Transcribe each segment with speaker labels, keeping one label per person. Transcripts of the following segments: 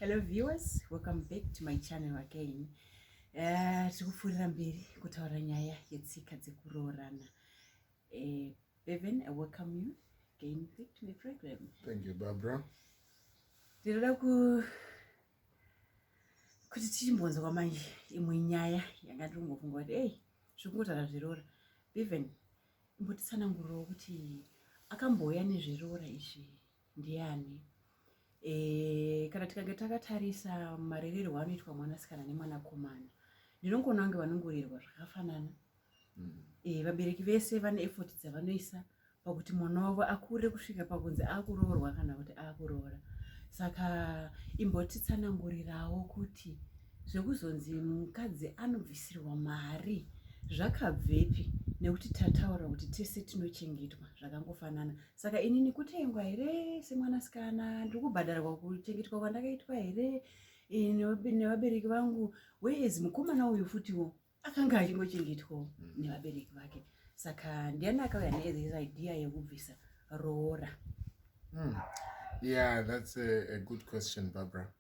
Speaker 1: Hello viewers, welcome back to my channel again. Eh, tiri kupfuurira mberi kutaura nyaya yetsika dzekuroorana. Eh, Bevan, I welcome you again back to my program. Thank you, Barbara.
Speaker 2: Ndinoda
Speaker 1: ku kuti tichimbonzwa manje imwe nyaya yanga ndiri kungofunga kuti ei zviri kungotaura zveroora. Bevan, imbotitsanangurirawo kuti akambouya nezveroora izvi ndiani e, kana tikange takatarisa marererwo anoitwa mwanasikana nemwanakomana ndinongoona kunge vanongorerwa zvakafanana mm. e, vabereki vese vane efoti dzavanoisa pakuti mwana wavo akure kusvika pakunzi akuroorwa kana kuti akuroora saka imbotitsanangurirawo kuti zvekuzonzi mukadzi anobvisirwa mari zvakabvepi nekuti tataura kuti tese tinochengetwa zvakangofanana saka ini ndikutengwa here semwanasikana ndiri kubhadharwa kuchengetwa kwandakaitwa here nevabereki vangu whereas mukomana uyu futiwo akanga achingochengetwawo mm. nevabereki vake saka ndiani akauya neis idea yekubvisa roora mm.
Speaker 2: yeah that's a, a good question barbara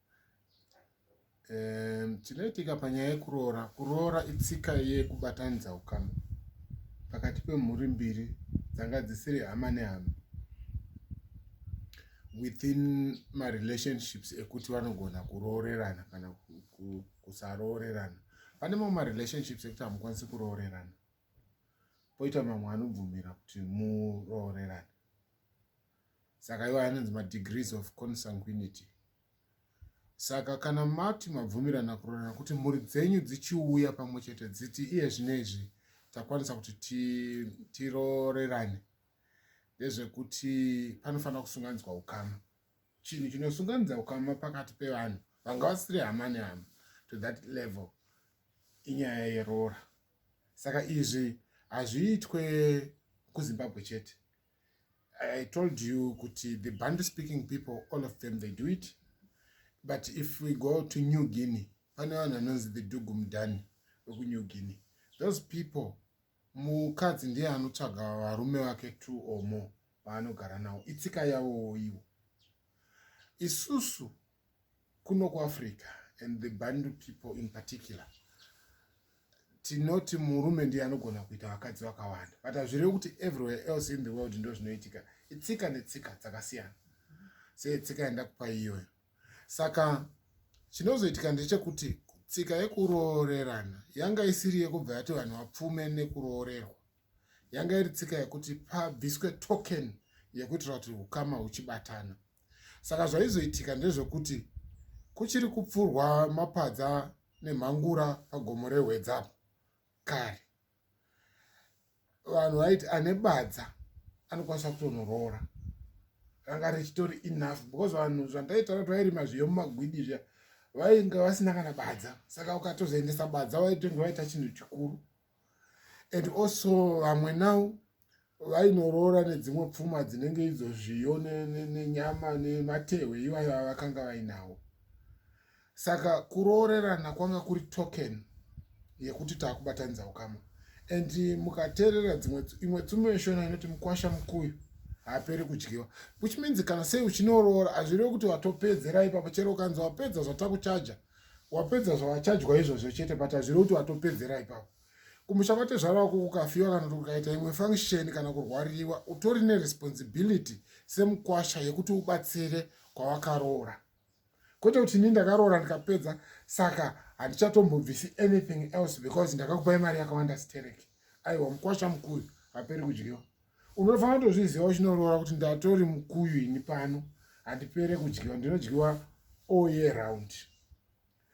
Speaker 2: um, chinoitika panyaya yekuroora kuroora itsika yekubatanidza ukama pakati pemhuri mbiri dzanga dzisiri hama nehama within marelationships ekuti vanogona kuroorerana kana kusaroorerana pane mamwe marelationships ekuti hamukwanisi kuroorerana poita mamwe anobvumira kuti muroorerane saka iwayo anonzi madegrees of consanguinity saka kana mati mabvumirana kurorana kuti mhuri dzenyu dzichiuya pamwe chete dziti iye zvino izvi takwanisa kuti tirorerane ndezvekuti panofanira kusunganidzwa ukama chinhu chinosunganidza ukama pakati pevanhu vanga vasiri hama nehama to that level inyaya yeroora saka izvi hazviitwe kuzimbabwe chete I told you kuti the Bantu speaking people all of them they do it but if we go to New Guinea pane vanhu vanonzi the Dugu Mdani vekuNew Guinea those people mukadzi ndiye anotsvaga varume vake two or more vaanogara nawo itsika yavowo ivo isusu Kuno kuAfrica and the Bantu people in particular tinoti murume ndiye anogona kuita vakadzi vakawanda but hazvirevi kuti everywhere else in the world ndo zvinoitika itsika netsika dzakasiyana setsika yandakupa iyoyo saka chinozoitika ndechekuti tsika yekuroorerana yanga isiri yekubva yati vanhu vapfume nekuroorerwa yanga iri tsika yekuti pabviswe token yekuitira kuti ukama huchibatana saka zvaizoitika ndezvekuti kuchiri kupfurwa mapadza nemhangura pagomo rehwedzapo kare vanhu vaiti ane badza anokwanisa kutonoroora ranga richitori enough because vanhu zvandaitaura kuti vairima zviyo mumagwidi zviya vainge vasina kana badza saka ukatozoendesa badza vaitenge vaita chinhu chikuru and also vamwe now vainoroora nedzimwe pfuma dzinenge idzo zviyo nenyama nematehwe ivayo avakanga vainawo saka kuroorerana kwanga kuri token yekuti taakubatanidza ukama and mukateerera dzimwe imwe tsumo yeshona inoti mukwasha mukuyu haaperi kudyiwa which means kana sei uchinoroora hazvirevi kuti watopedzera ipapo chero ukanzi wapedza zvatakuchaja wapedza zvawachajwa izvozvo chete but hazviri kuti watopedzera ipapo kumusha kwatezvara wako kukafiwa kana kuti kukaita imwe function kana kurwariwa utori neresponsibility semukwasha yekuti ubatsire kwawakaroora kwete kuti ini ndakaroora ndikapedza saka handichatombobvisi anything else because ndakakupai mari yakawanda sterek aiwa mukwasha mukuru haperi kudyiwa unofanira kutozviziva uchinoroora kuti ndatori mukuyu ini pano handipere kudyiwa ndinodyiwa all year round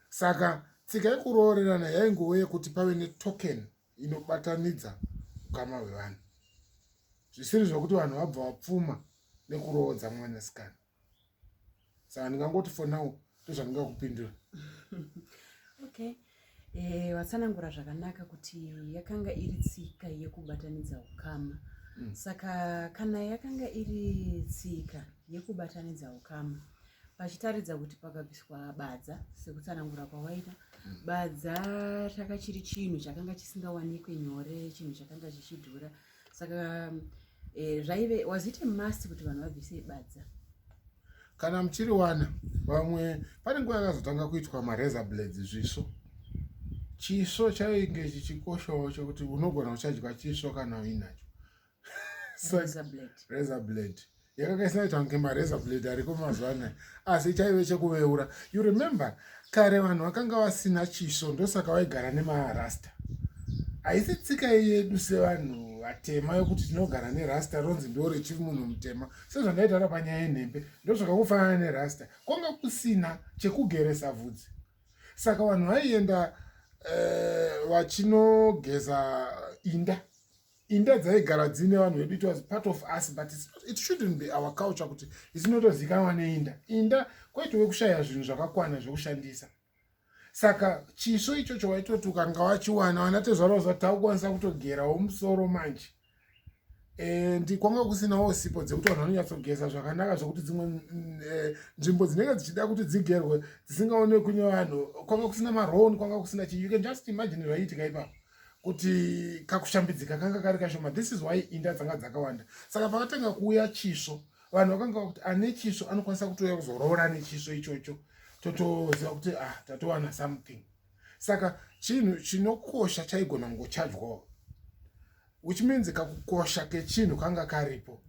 Speaker 2: saka tsika yekuroorerana yaingove yekuti pave netoken inobatanidza ukama hwevanhu zvisiri zvokuti vanhu vabva vapfuma nekuroodza mwanasikana saka ndingangoti for now ndozvandingakupindura
Speaker 1: okay eh, vatsanangura e, zvakanaka kuti yakanga iri tsika yekubatanidza ukama mm. saka kana yakanga iri tsika yekubatanidza ukama pachitaridza kuti pakabviswa badza sekutsanangura kwawaita mm. badza chakachiri chinhu chakanga chisingawanikwe nyore chinhu chakanga chichidhura mm. saka eh, zvaive was
Speaker 2: it a
Speaker 1: must kuti vanhu vabvise badza kana muchiri wana vamwe
Speaker 2: pane nguva yakazotanga kuitwa marazor blades zviso chiso chainge chichikoshawo chokuti unogona uchadya chiso kana uinacho razor blade yakanga isinaita kunge mareza blade ariko mazuva anaya asi chaive chekuveura you remember kare vanhu vakanga vasina chiso ndosaka vaigara nemarasta haisi tsika yedu sevanhu vatema yokuti tinogara nerasta ronzi ndo richiri munhu mutema sezvandaitaura panyaya yenhembe ndozvakakufanana nerasta kwanga kusina chekugeresa vhudzi saka vanhu vaienda eh, vachinogeza uh, inda inda dzaigara dziine vanhu vedu it was part of us but it shouldn't be our culture kuti isinotozikanwa neinda inda kwaitove kushaya zvinhu zvakakwana zvekushandisa saka chiso ichocho waitoti ukanga wachiwana wana tezvara uzati taukwanisa kutogerawo musoro manje e, ndikwanga kusinawo sipo dzekuti vanhu vanonyatsogeza zvakanaka zvekuti dzimwe mm, e, nzvimbo dzinenge dzichida kuti dzigerwe dzisingaonekwi nevanhu kwanga kusina marown kwanga kusina chii you can just imagine zvaiitika ipapo kuti kakushambidzika kanga kari kashoma this is why inda dzanga dzakawanda saka pakatanga kuuya chisvo vanhu vakanga kuti ane chisvo anokwanisa kutouya kuzoroora ane chisvo ichocho totoziva kuti ah tatowana something saka chinhu chinokosha chaigona kungochajwawo which means kakukosha kechinhu kanga karipo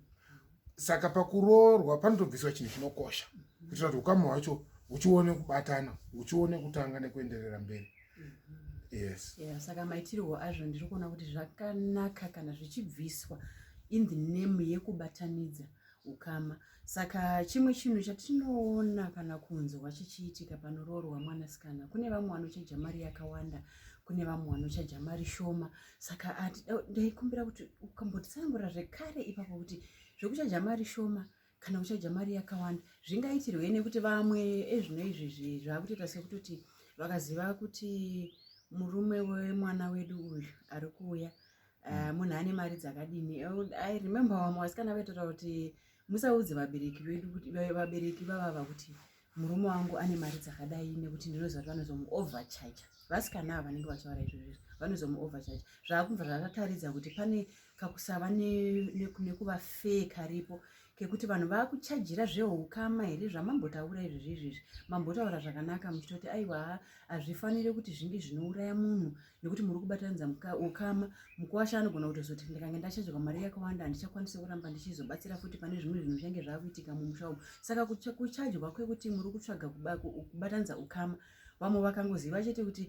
Speaker 2: saka pakuroorwa panotobviswa chinhu chinokosha kuitira kuti ukama hwacho huchione kubatana huchione kutanga nekuenderera mberi yes yeah, saka maitirwo
Speaker 1: azvo ndiri kuona kuti zvakanaka kana zvichibviswa in the name yekubatanidza ukama saka chimwe chinhu chatinoona kana kunzwa chichiitika panoroorwa mwanasikana kune vamwe vanochaja mari yakawanda kune vamwe vanochaja mari shoma saka ndaikumbira kuti ukambotsanangura zvekare ipapo kuti zvekuchaja mari shoma kana uchadya mari yakawanda zvingaitirwei nekuti vamwe ezvino izvi izvi zvakutoita sekutoti vakaziva kuti murume wemwana wedu uyu ari kuuya eh, hmm. munhu ane mari dzakadini i remember vamwe vasikana vaitotaura kuti musaudze vabereki vedu kuti vabereki vavava kuti murume wangu ane mari dzakadai nekuti ndinoziva kuti vanozomuovercharger vasikana ava vanenge vachivara izvozvizvo vanozomuovercharger zvaakubva zvakataridza kuti pane kakusava nekuva fee karipo kekuti vanhu vakuchajira zveukama here zvamambotaura izvozvizvizvi mambotaura zvakanaka muchitoti aiwa hazvifanire kuti zvinge zvinouraya munhu nekuti muri kubatanidza ukama mukuwasha anogona kutozoti ndikange ndachajwa mari yakawanda handichakwanisi kuramba ndichizobatsira futi pane zvimwe zvinhu zvinenge zvakuitika mumusha umu saka kuchajwa kwekuti muri kutsvaga kubatanidza ukama vamwe vakangoziva chete kuti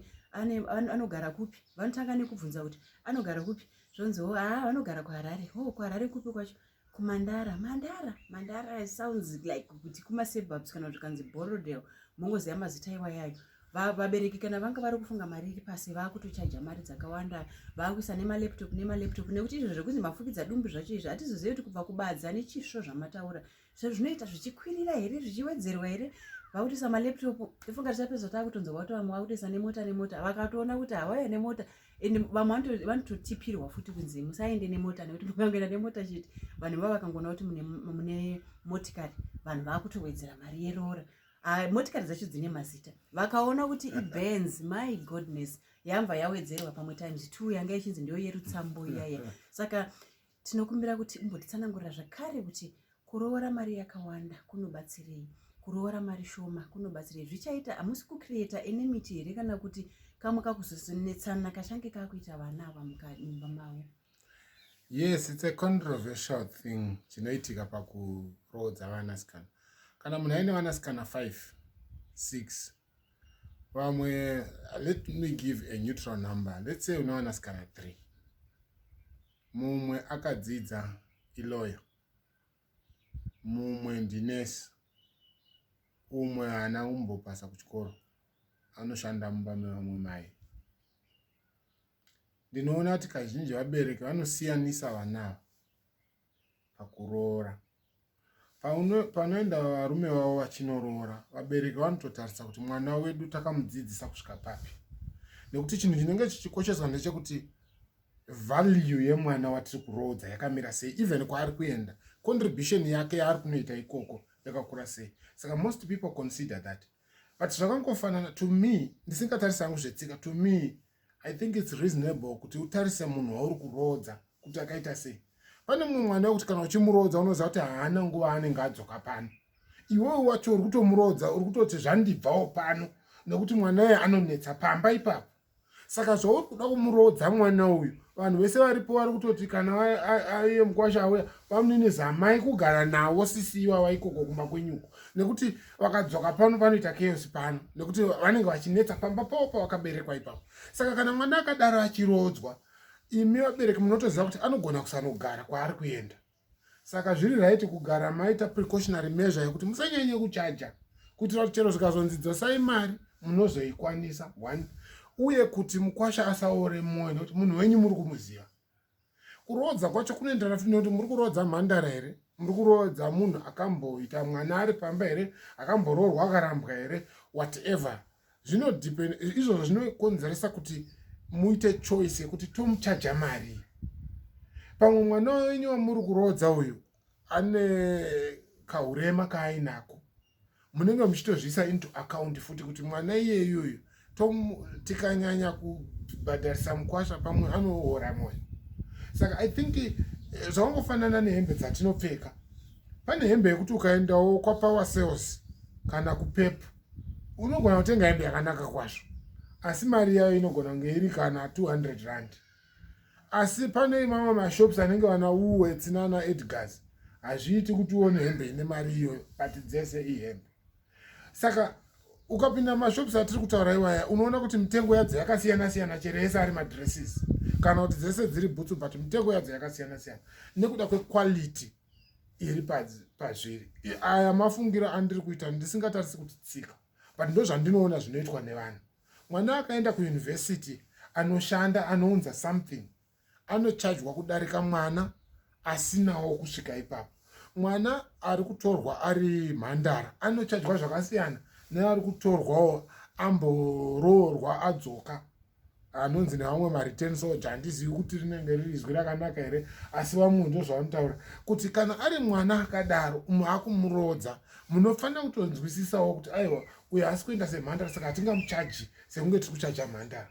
Speaker 1: anogara kupi vanotanga nekubvunza kuti anogara kupi zvonziwo haa vanogara kuharare ho oh, kuharare kupi kwacho kumandara mandara mandara sounds like kuti kumasurbubs kana kuti kanzi borodel mongoziva mazita iwayayo vabereki kana vanga vari kufunga mari iri pasi vaakutochaja mari dzakawanda vaakuisa nemalaptop nemalaptop nekuti izvo zvekunzi mafukidza dumbu zvacho izvi hatizozivi kuti kubva kubadza nechisvo zvamataura zvo zvinoita zvichikwirira here zvichiwedzerwa here vakutoisa malaptop ifunga tichapedza taakutonzwa vakutovamwe vakutoisa nemota nemota vakatoona kuti hawaya nemota and vamwe vanototipirwa futi kunzi musaende nemota nekuti mukangoenda nemota chete vanhu vava vakangoona kuti mune motikari vanhu vakutowedzera mari yeroora ah, motikari dzacho dzine mazita vakaona kuti ibenz my goodness yamva yawedzerwa pamwe times two yanga ichinzi ndiyo yerutsambo iyaya saka Tinokumbira kuti umbotitsanangurira zvakare kuti kuroora mari yakawanda kunobatsirei, kuroora mari shoma kunobatsirei, zvichaita hamusi kucreata enemiti here kana kuti kamwe kakuzonetsana kachange kakuita vana ava mumba mavo? Yes,
Speaker 2: it's a controversial thing chinoitika pakuroodza vanasikana. Kana munhu aine vanasikana 5 6 vamwe let me give a neutral number let's say une vanasikana three mumwe akadzidza iloyo mumwe ndinesi umwe haana kumbopasa kuchikoro anoshanda mumba mevamwe mai ndinoona kuti kazhinji vabereki vanosiyanisa vana ava pakuroora panoenda varume vavo vachinoroora vabereki vanototarisa kuti mwana wedu takamudzidzisa kusvika papi nekuti chinhu chinenge chichikosheswa ndechekuti value yemwana watiri kuroodza yakamira sei even kwaari kuenda contribution yake yaari kunoita ikoko yakakura sei saka most people consider that but zvakangofanana to me ndisingatarisi hangu zvetsika to me i think its reasonable kuti utarise munhu wauri kuroodza kuti akaita sei pane mumwe mwana wekuti kana uchimuroodza unoziva kuti haana nguva anenge adzoka pano iwewe wacho uri kutomuroodza uri kutoti zvandibvawo pano nekuti mwana uye anonetsa pamba ipapo saka zvauri kuda kumuroodza mwana uyu vanhu vese varipo vari kutoti kana aye mukwasha auya vamunini zamai kugara nawo sisi iwava ikoko kumba kwenyuko nekuti vakadzoka pano vanoita chaos pano nekuti vanenge vachinetsa pamba pavo pavakaberekwa ipapo saka kana mwana akadaro achiroodzwa imi vabereki munotoziva kuti anogona kusanogara kwaari kuenda saka zviri raiti kugara maita precautionary measure yekuti musanyanye kuchaja kuitira kuti chero zvikazonzi dzosai mari munozoikwanisa one uye kuti mukwasha asaore mwoyo nekuti munhu wenyu muri kumuziva kuroodza kwacho kunoenderana futi nekuti muri kuroodza mhandara here muri kuroodza munhu akamboita mwana ari pamba here akamboroorwa akarambwa here whatever zvinodepend izvozvo zvinokonzeresa kuti muite choice yekuti tomuchaja mari pamwe mwana wenyu wamuri kuroodza uyu ane kahurema kaainako munenge muchitozviisa into account futi kuti mwana iyeyoyo tikanyanya kubhadharisa mukwasha pamwe anoora mwoyo saka i think eh, zvakangofanana nehembe dzatinopfeka pane hembe yekuti ukaendawo kwapower sales kana kupepu unogona kutenga hembe yakanaka kwazvo asi mari yayo inogona kunge iri kana 200 rand asi pane mamwe mashops anenge vana woolworths nana edgars hazviiti kuti uone hembe ine mari iyo pati dzese ihembe saka ukapinda mashops atiri kutaura iwaya unoona kuti mitengo yadzo yakasiyana siyana chero yese ari madresses kana kuti dzese dziri bhutsu but mitengo yadzo yakasiyana siyana nekuda kwequality iri pazviri aya mafungiro andiri kuita ndisingatarisi kuti tsika but ndozvandinoona zvinoitwa nevanhu Mwana akaenda kuuniversity anoshanda anounza something anochajwa kudarika mwana asinawo kusvika ipapo. Mwana ari kutorwa ari mhandara anochajwa zvakasiyana neari kutorwawo amboroorwa adzoka anonzi nevamwe mareturn soja handizivi kuti rinenge riri izwi rakanaka here asi vamwe ndo zvavanotaura kuti kana ari mwana akadaro umu akumuroodza munofanira kutonzwisisawo kuti aiwa uyo haasi kuenda semhandara saka hatingamuchaji sekunge tiri kuchaja mhandara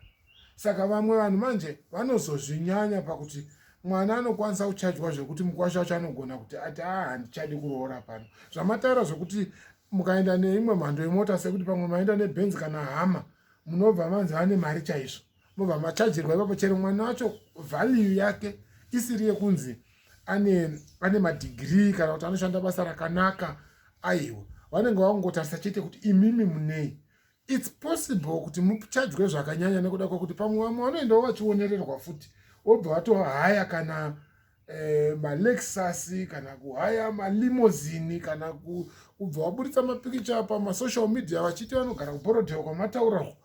Speaker 2: saka vamwe vanhu manje vanozozvinyanya pakuti mwana anokwanisa kuchajwa zvekuti mukwasha wacho anogona kuti ati a ah, handichadi kuroora pano zvamataura zvekuti mukaenda neimwe mhando yemota sekuti pamwe maenda nebenzi kana hama munobva manzi vane mari chaizvo mobva machajirwa ipapo chero mwana wacho value yake isiri yekunzi ane ane madhigirii kana kuti anoshanda basa rakanaka aiwa vanenge vakungotarisa chete kuti imimi munei its possible kuti muchajwe zvakanyanya nekuda kwekuti pamwe vamwe vanoendawo vachionererwa futi wobva vatohaya kana eh, malexus kana kuhaya malimozini kana kubva waburitsa mapikicha pamasocial media vachiti vanogara kuborodhewa kwamatauraho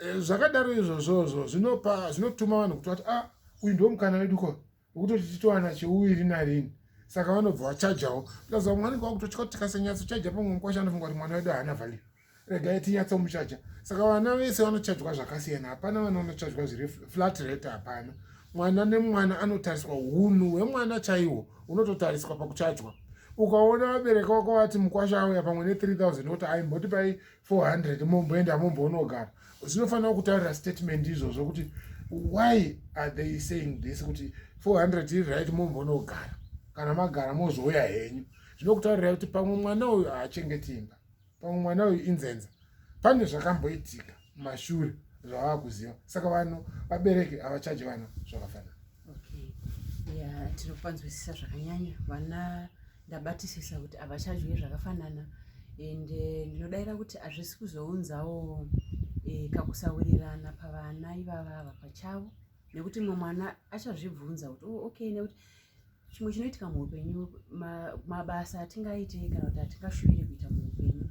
Speaker 2: eh, zvakadaro izvozvozvo zvinopa zvinotuma vanhu kuti vati a ah, uyu ndo mukana wedu ko wekutoti titowana cheuviri narini saka vanobva vachajawo plus vamwe vanenge vakutotya kuti tikasenyatso chaja pamwe mukwasha anofunga kuti mwana wedu haana value regai tinyatsomuchaja saka vana vese vanochajwa zvakasiyana hapana vana vanochajwa zviri flat rate hapana mwana nemwana anotariswa hunhu hwemwana chaihwo hunototariswa pakuchajwa ukaona vabereki vako vati mukwasha auya pamwe ne3000 woti aimboti pai 400 momboenda momboonogara zvinofanira kutaurira statement izvozvo kuti why are they saying this kuti 400 iri right mombonogara kana magara mozouya henyu zvinokutaurira kuti pamwe mwana uyu haachengeti imba pamwe mwana uyu inzenza pane zvakamboitika mashure zvavava kuziva saka vano vabereki havachaji vana zvakafanana
Speaker 1: ya tinopanzwisisa zvakanyanya vana ndabatisisa kuti havachadye zvakafanana and eh, ndinodaira kuti hazvisi kuzounzawo eh, kakusawirirana pavana ivava ava pachavo nekuti mumwe mwana achazvibvunza kuti oh, okay nekuti chimwe chinoitika muupenyu mabasa atingaite kana kuti atingashuvire kuita muupenyu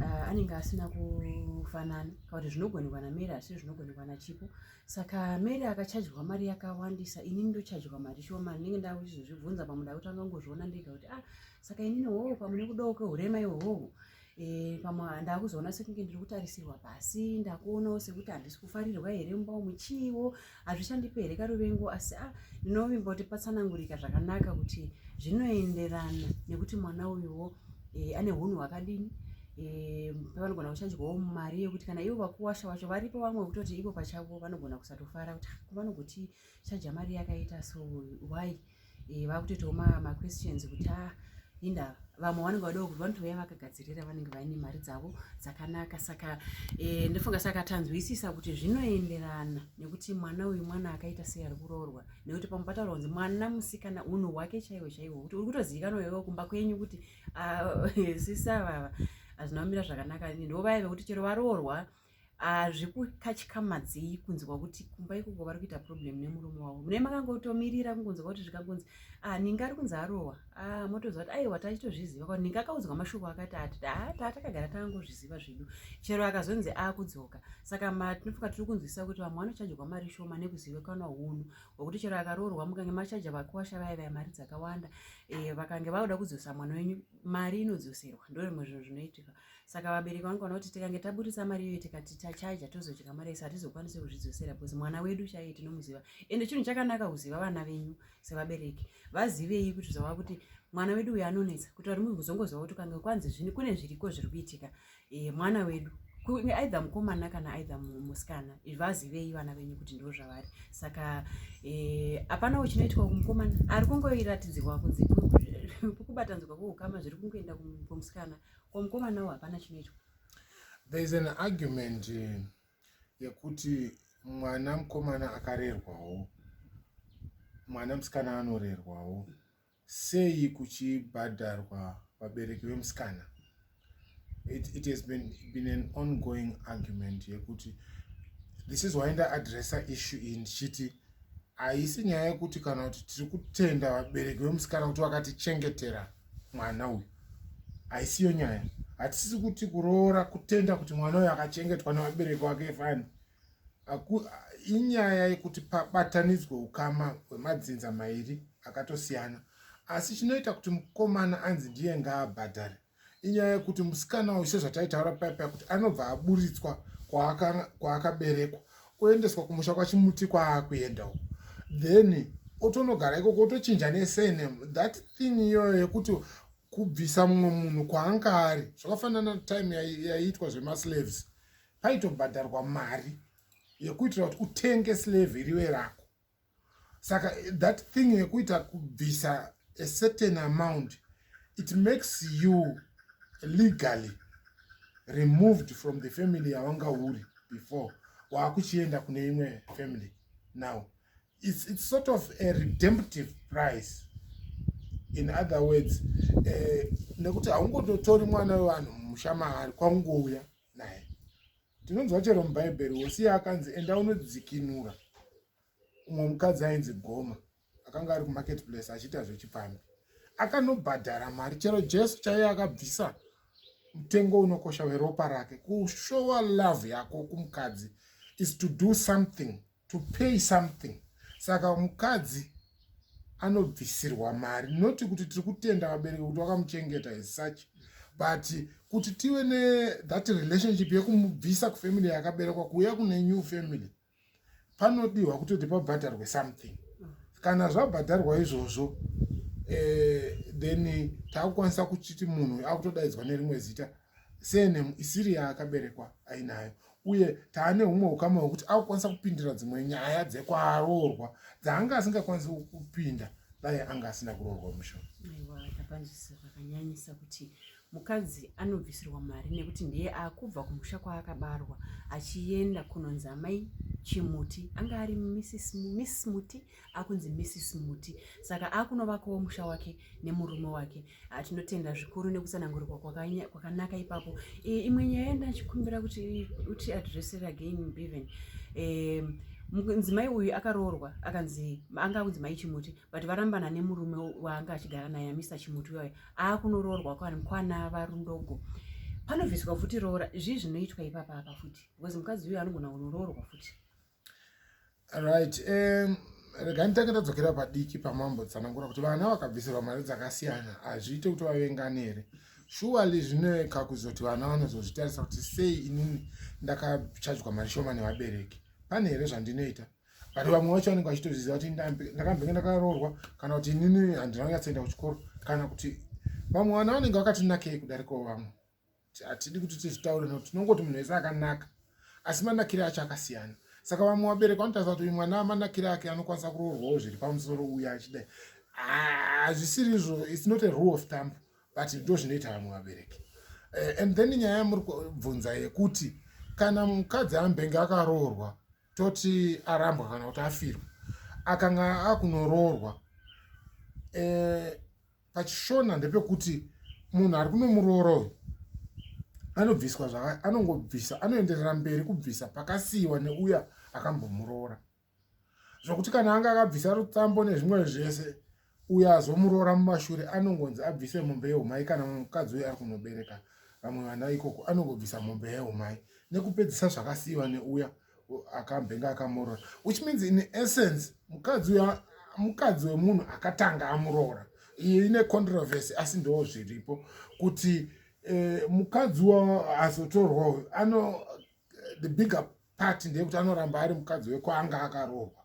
Speaker 1: ah, anenge asina kufanana kana kuti zvinogonekwa namary asi zvinogonekwa nachipo saka mary akachajirwa mari yakawandisa ini ndochajirwa mari shoma ndinenge ndava kuchizozvibvunza pamuda kuti angangozviona ndega kuti a ah, saka inini hoo pamune kudawo kehurema ihohoho Eh, pamwe ndakuzoona sekunge ndiri kutarisirwa pasi ndakuonawo sekuti handisi kufarirwa here mumba umu chiiwo hazvishandipe here karuvengo asi a ah, ndinovimba kuti patsanangurika zvakanaka kuti zvinoenderana nekuti mwana uyuwo eh, ane hunhu hwakadini eh, pavanogona kuchanjwawo mari yekuti kana ivo vakuwasha wacho varipo vamwe vekutoti ivo pachavo vanogona kusatofara kuti ah, vanogoti chaja mari yakaita so why eh, vakutoitawo maquestions ma kuti ah, inda vamwe vanenge vadao kuti vanotouya vakagadzirira vanenge vaine mari dzavo dzakanaka saka e, ndofunga saka tanzwisisa kuti zvinoenderana nekuti mwana uyu mwana akaita sei ari kuroorwa nekuti pamwe pataura kunzi mwana musikana unhu hwake chaiwo chaiwo kuti uri kutozivikanwa iwewo kumba kwenyu kuti ah, sisavava hazvina kumira zvakanaka ndo vaive kuti chero varoorwa ah, zvikukatyikamadzei kunzwa kuti kumba ikoko vari kuita problem nemurume wavo mune makangotomirira kungonzwa kuti zvikangonzi ah, ninga ari kunzi arohwa ah, motoziva kuti aiwa tachitozviziva kuti ninga akaudzwa mashoko akati ati taa takagara tangozviziva zvedu chero akazonzi akudzoka saka tinofunga tiri kunzwisisa kuti vamwe vanochajirwa mari shoma nekuzivikanwa hunhu hwekuti chero akaroorwa mukange machaja vakuwasha vaya vaya mari dzakawanda eh, vakange vauda kudzosa mwana wenyu mari inodzoserwa ndo rimwe zvinhu zvinoitika saka vabereki vangu vana kuti tikange taburitsa mari iyoyo tikati tachaja tozodya mari yese hatizokwanisi kuzvidzosera bcause mwana wedu chaiye tinomuziva ende chinhu chakanaka kuziva vana venyu sevabereki vazivei kuti zvava kuti mwana wedu uyo anonetsa kuti vari muzongozova kuti kange kwanzi zvini kune zviriko zviri kuitika eh, mwana wedu kunge aidha mukomana kana aidha musikana vazivei vana venyu kuti ndo zvavari saka eh, hapana e, uchinoitwa kumukomana ari kungoiratidzirwa kunzi kubatanzwa kweukama zviri kungoenda kumusikana ko mukomana wo hapana chinoitwa there is
Speaker 2: an argument eh, yekuti mwana mukomana akarerwawo mwana musikana anorerwawo sei kuchibhadharwa vabereki vemusikana it, it has been, been an ongoing argument yekuti this is why ndaadressa issue iyi ndichiti haisi nyaya yekuti kana kuti tiri kutenda vabereki vemusikana kuti vakatichengetera mwana uyu haisiyo nyaya hatisisi kuti kuroora kutenda kuti mwana uyu akachengetwa nevabereki wake fani inyaya yekuti pabatanidzwe ukama hwemadzinza mairi akatosiyana asi chinoita kuti mukomana anzi ndiye ngaabhadhare inyaya yekuti musikana uyu sezvataitaura paipa kuti anobva aburitswa kwaakaberekwa oendeswa kumusha kwachimuti kwaakuenda uko then otonogara ikoko otochinja nesurname that thing iyoyo yekuti kubvisa mumwe munhu kwaanga ari zvakafanana time yaiitwa zvemaslaves paitobhadharwa mari yekuitira kuti utenge slave iriwe rako saka that thing yekuita kubvisa a certain amount it makes you legally removed from the family yawanga uri before waakuchienda kune imwe family now it's, it's sort of a redemptive price in other words eh, nekuti haungototori mwana wevanhu musha maari kwangouya naye tinonzwa chero mubhaibheri hosiya akanzi enda unodzikinura umwe mukadzi ainzi goma akanga ari kumarket place achiita zvechipfambi akanobhadhara mari chero jesu chaiye akabvisa mutengo unokosha weropa rake kushowa love yako kumukadzi is to do something to pay something saka mukadzi anobvisirwa mari noti kuti tiri kutenda vabereki kuti vakamuchengeta as such but kuti tive nethat relationship yekumubvisa kufamily yakaberekwa kuuya kune new family panodiwa kutoti pabhadharwe something kana zvabhadharwa izvozvo eh, then takukwanisa kuchiti munhu akutodaidzwa nerimwe zita surname isiri yaakaberekwa ainayo uye taane humwe ukama hwekuti akukwanisa kupindira dzimwe nyaya dzekwaroorwa dzaanga asingakwanisi kupinda dai anga asina kuroorwa mushona
Speaker 1: mukadzi anobvisirwa mari nekuti ndiye akubva kumusha kwaakabarwa achienda kunonzi amai chimuti anga ari miss muti akunzi Mrs Muti saka akunovakawo musha wake nemurume wake ah, tinotenda zvikuru nekutsanangurirwa kwakanaka ipapo eh, imwe nyaya yandachikumbira kuti uti address again beven um, mudzimai uyu akaroorwa akanzi anga akunzi mai chimuti but varambana nemurume waanga achigara naye amisa chimuti uyoyo aakunoroorwa kwana varundogo panobviswa futi roora zvii zvinoitwa ipapa apa futi because mukadzi uyo anogona kunoroorwa futi
Speaker 2: right um, rega nditange ndadzokera padiki pamambo tsanangura kuti vana vakabvisirwa mari dzakasiyana hazviite kuti vavengane here shuwali zvinoeka kuzoti vana vanozozvitarisa kuti sei inini ndakachajwa mari shoma nevabereki pane here zvandinoita but vamwe vacho vanenge vachitozviziva kuti ndakambenge ndakaroorwa kana kuti inini handina kunyatsoenda kuchikoro kana kuti vamwe vana vanenge vakatinakei kudarikawo vamwe hatidi kuti tizvitaure no tinongoti munhu wese akanaka asi manakire acho akasiyana saka vamwe vabereki vanotarisa kuti uyu mwana amanakire ake anokwanisa kuroorwawo zviri pamusoro uya achidai hazvisiri izvo its not a rule of thump but ndo zvinoita vamwe vabereki eh, and then nyaya yamuri kubvunza yekuti kana mukadzi ambenge akaroorwa toti arambwa kana kuti afirwa akanga akunoroorwa eh, pachishona ndepekuti munhu ari kunomuroora uyu anobviswa zvaka anongobvisa anoenderera mberi kubvisa pakasiyiwa neuya akambomuroora zvokuti kana anga akabvisa rutsambo nezvimwe zvese uyo azomuroora mumashure anongonzi abvise mombe yeumai kana mukadzi uyo ari kunobereka vamwe vana ikoko anongobvisa mombe yeumai nekupedzisa zvakasiyiwa neuya akambenga akamuroora which means in essence mukadzi uyo mukadzi wemunhu akatanga amuroora iyo ine controversy asi ndoo zviripo kuti eh, mukadzi wa azotorwa uyo ano the bigger part ndeyekuti anoramba ari mukadzi wekwaanga akaroorwa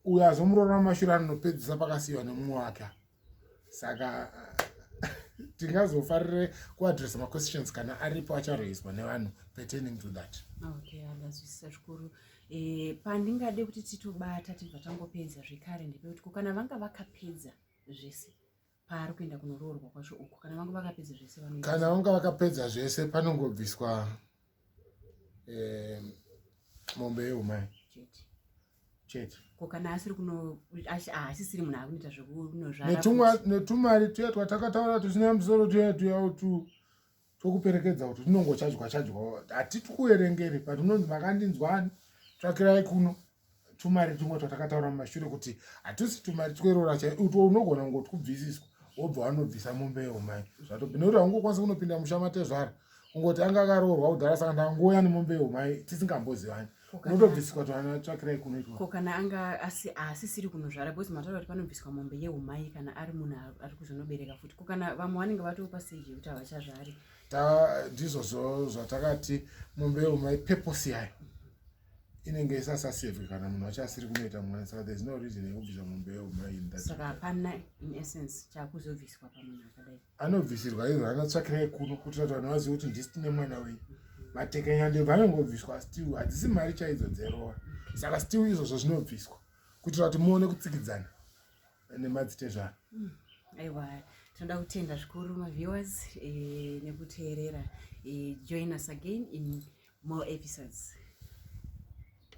Speaker 2: uyo azomuroora mumashure anopedzisa pakasiyiwa nemumwe wake saka tingazofarire kuadressa maquestions kana aripo acharoiswa nevanhu pertaining to that okay andazwisisa
Speaker 1: zvikuru eh, pandingade kuti titobata tibva tangopedza zvekare ndepekuti ko kana vanga vakapedza zvese paari kuenda kunoroorwa kwacho uku kana vanga vakapedza zvese kana vanga vakapedza
Speaker 2: zvese panongobviswa eh, mombe yeumai chete ko kana asiri
Speaker 1: kuno haasisiri munhu akunoita zvekunozvara netumari tuya
Speaker 2: twatakataura tusina musoro tuya tuya utu tokuperekedza kuti rinongochajwa chajwa hatiti kuverengeri but unonzi makandinzwani tsvakirai kuno tumari tumwe twatakataura mumashure kuti hatusi tumari tweroora chai utwo unogona kungo twubvisiswa wobva wanobvisa mombe yeumai zvatobvi nekuti haungokwanisa kunopinda musha matezvara kungoti anga akaroorwa kudhara saka ndangouya nemombe yeumai tisingambozivani unotobviswa tsvakirai kunoitwa ko kana anga
Speaker 1: asisiri kunozvara because mataura kuti panobviswa mombe yeumai kana ari munhu ari kuzonobereka futi ko kana vamwe vanenge vatopa stage yekuti havachazvari ndizvozvo
Speaker 2: zvatakati mombe yeumai purpose yayo inenge isasasevhi kana munhu wacho asiri kunoita mwana saka there's no reason yekubvisa mombe yeumai saka hapana in
Speaker 1: essence chakuzobviswa pamunhu akadai anobvisirwa ivo
Speaker 2: anotsvakirai kuno kuitira kuti vanhu vazive kuti ndisi tine mwana wenyu matekanyande vanongobviswa still hadzisi mari chaidzo dzerova saka still izvozvo zvinobviswa kuitira kuti muone kutsikidzana nemadzitezvaro hmm,
Speaker 1: aiwa tinoda kutenda zvikuru maviewers eh, nekuteerera eh, join us again in more episodes